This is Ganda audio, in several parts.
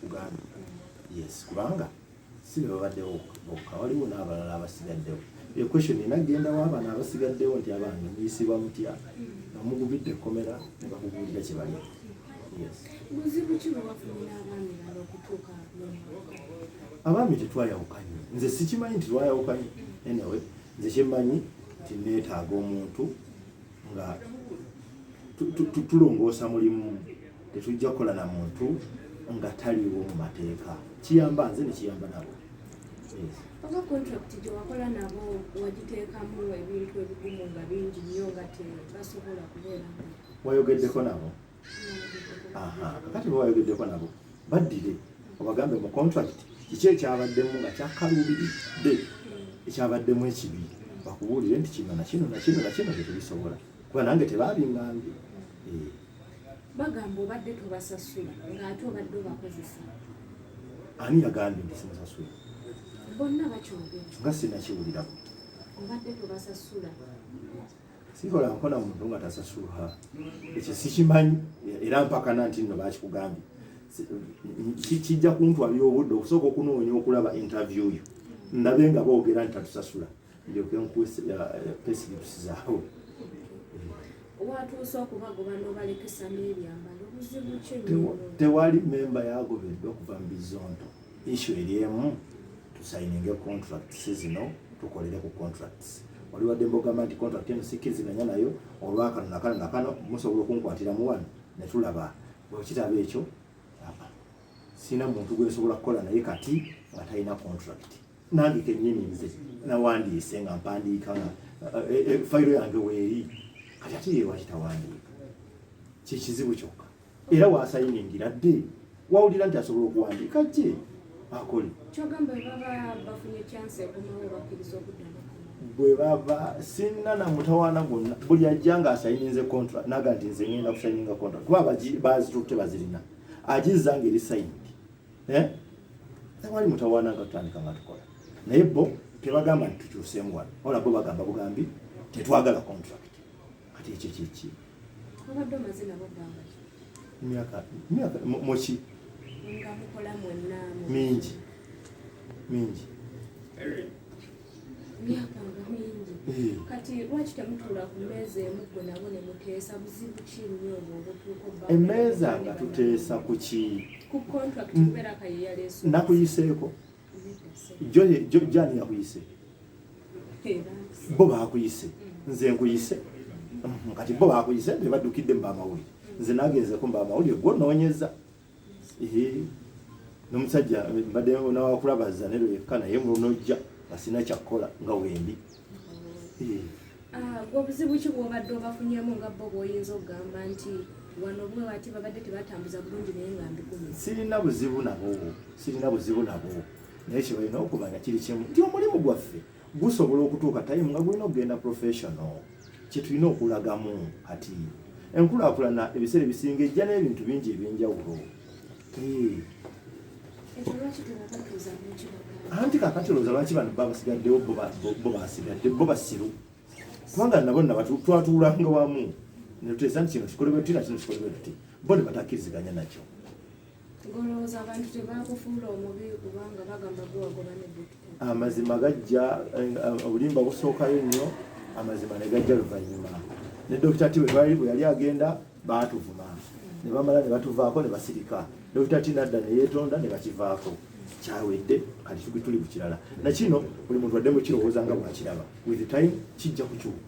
Uganda yes kubanga si be babaddewo bokka waliwo n'abalala abasigaddewo e question ena genda w'abaana abasigaddewo nti abange muyisibwa mutya nga mugubidde ekkomera ne bakubuulira kye bali abaami tetwayawukanye nze sikimanyi nti twayawukanye anyway nze kyemmanyi nti neetaaga omuntu nga tulongoosa mulimu Tetujja kukola na muntu nga taliwo mu mateeka. Kiyamba nze ne kiyamba nabo. Oba contract gye wakola nabo wagiteekamu ebintu ebigumu nga bingi nnyo nga tebasobola kubeera. Wayogeddeko nabo? Aha, kakati bwe wayogeddeko nabo baddire obagambe mu contract kiki ekyabaddemu nga kyakaluubiridde ekyabaddemu ekibi bakubuulire nti kino nakino nakino nakino tetubisobola kuba nange tebaabingambye eh. bagamba obadde tobasasula ng'ate obadde obakozesa ani yagambye nti simusasula bonna bakyogera nga sinakiwulirako obadde tobasasula sikola nkola muntu nga tasasulwa ekyo sikimanyi era mpakana nti nno bakikugambye kijja kuntwalira obudde okusooka okunoonya okulaba interview yo ndabe nga boogera nti tatusasula ndyoke nkuuse pesilipsi zaawe watuuse okubagoba nobalekesa n'ebyambalo obuzibu ki tewali memba yagobeddwa okuva mu bizonto issu eri emu tusayininge contracts zino tukolere ku contracts wali wadde mbogamba nti contract eno sikkiriziganya nayo olwakano nakano nakano musobola okunkwatiramu wano ne tulaba bwekitaba ekyo sina muntu gwensobola kukola naye kati nga talina contract nange kenyini nze nawandiise nga mpandiika nga eh, eh, fayiro yange weeri kati ate ye lwaki tawandiika kyekizibu kyokka era wasayiningira dde wawulira nti asobola okuwandiika gye akole bwe baba sinna na mutawaana gwonna buli ajja nga asayininze contract naga nti nze ngenda kusayininga contract kuba bazitutte bazirina agizza nga eri sayini eh tewali mutawana nga tutandika nga tukola naye bo tebagamba nti tukyuseemu wano wala bo bagamba bugambi tetwagala contract kati ekyo kyeki myaka myaka moki mingi mingi emmeeza nga tuteesa ku ki nakuyiseeko jani yakuyise bo bakuyise nze nkuyise kati bo bakuyise bebaddukidde mu bamawulire nze nagenzeko mu bamawulire gwonoonyeza nomusajja mbadde nawakulabaza nero yekka naye mulunojja asina kyakkola nga wendi ah, obuzibu ki bwobadde obafunyemu nga bo bwoyinza okugamba nti wano bwe wati babadde tebatambuza bulungi naye nga mbigumi sirina buzibu nabo sirina buzibu nabo naye kyebalina okumanya kiri kimu nti omulimu gwaffe gusobola okutuuka time nga gulina okugenda professional kyetulina okulagamu kati enkulakulana ebiseera ebisinga ejja n'ebintu bingi ebyenjawulo anti kakati olowooza lwaki bano babasigaddewo bo basigadde bo basiru kubanga nabo naba twatuulanga wamu netuteesa nti kino kikolebwe tuti na kino kikolebwe tuti bo ne batakkiriziganya nakyo amazima gajja eh, obulimba busookayo nnyo amazima ne gajja luvannyuma ne dokita ti bwetwali bwe yali agenda baatuvuma ne bamala ne batuvaako ne basirika dokita ti nadda ne yeetonda ne bakivaako kyawedde kati tuli ku kirala nakino buli muntu adde mu kirowooza nga bwakiraba with time kijja kukyuka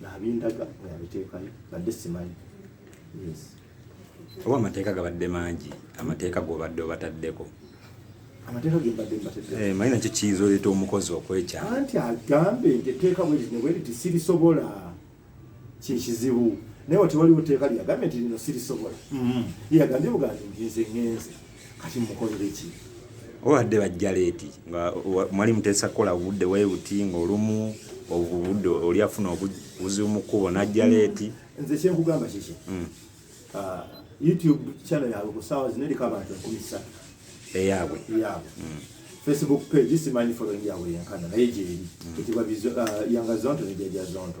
nabindaga nabiteekayo badde simanyi yes oba amateeka gabadde mangi amateeka gobadde obataddeko amateeka gembadde mbatedde eh, manyi nakyo kiyinza oleeta omukozi okwekyama anti agambe nti etteeka bweriti nebweriti sirisobola kyekizibu naye wati waliwo teeka lyagambye nti lino sirisobola mm-hmm. yagambye bugambi nti nze ngenze kati mukolere ki obadde bajja leeti nga mwali muteesa kukola budde webuti ngaolumu obudde oli afuna obuzibu mu kkubo najja leeti nze kyenkugamba kiki hmm. ah, youtube channel yabwe ku saawa zino eriko abantu enkumi ssatu eyabwe eyabwe hmm. facebook page simanyi following yabwe yenkana naye gyeri hmm. ekibwa ah, yanga zonto nejaja zonto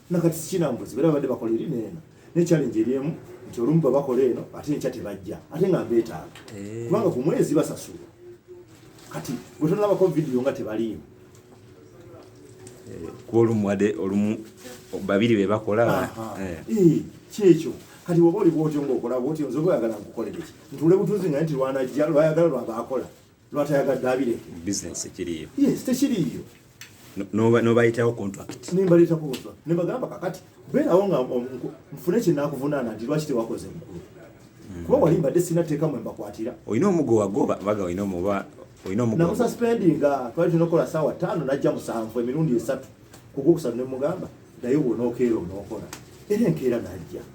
nakati sikinambuzi bera babadde bakola eri neeno ne challenge eri emu nti olumu babakola eno ate enkya tebajja ate nga mbeetaaga eh. kubanga ku mwezi basasula kati gwe tonalabako vidiyo nga tebaliimu eh, kuba olumu wade olumu babiri be bakola eh. kyekyo kati woba oli bwotyo ngaokola bwotyo nze oba oyagala nkukolereki ntuule butuuzi nga nti lwanajja lwayagala lwabaakola lwatayagadde abireke business ekiriyo yes tekiriyo nobayitawo contract nembaletako obuva nebagamba kakati beerawo nga nfune kyenakuvunaana nti lwaki tewakoze mukulu hmm. kuba wali mbadde sina teeka mwe mbakwatira olina omugo wagoba baga olina omuba olina omugo namusaspendinga twali tunokola saawa taano najja musanvu emirundi esatu kugwokusatu nemugamba naye bwonokeera onokola era enkeera najja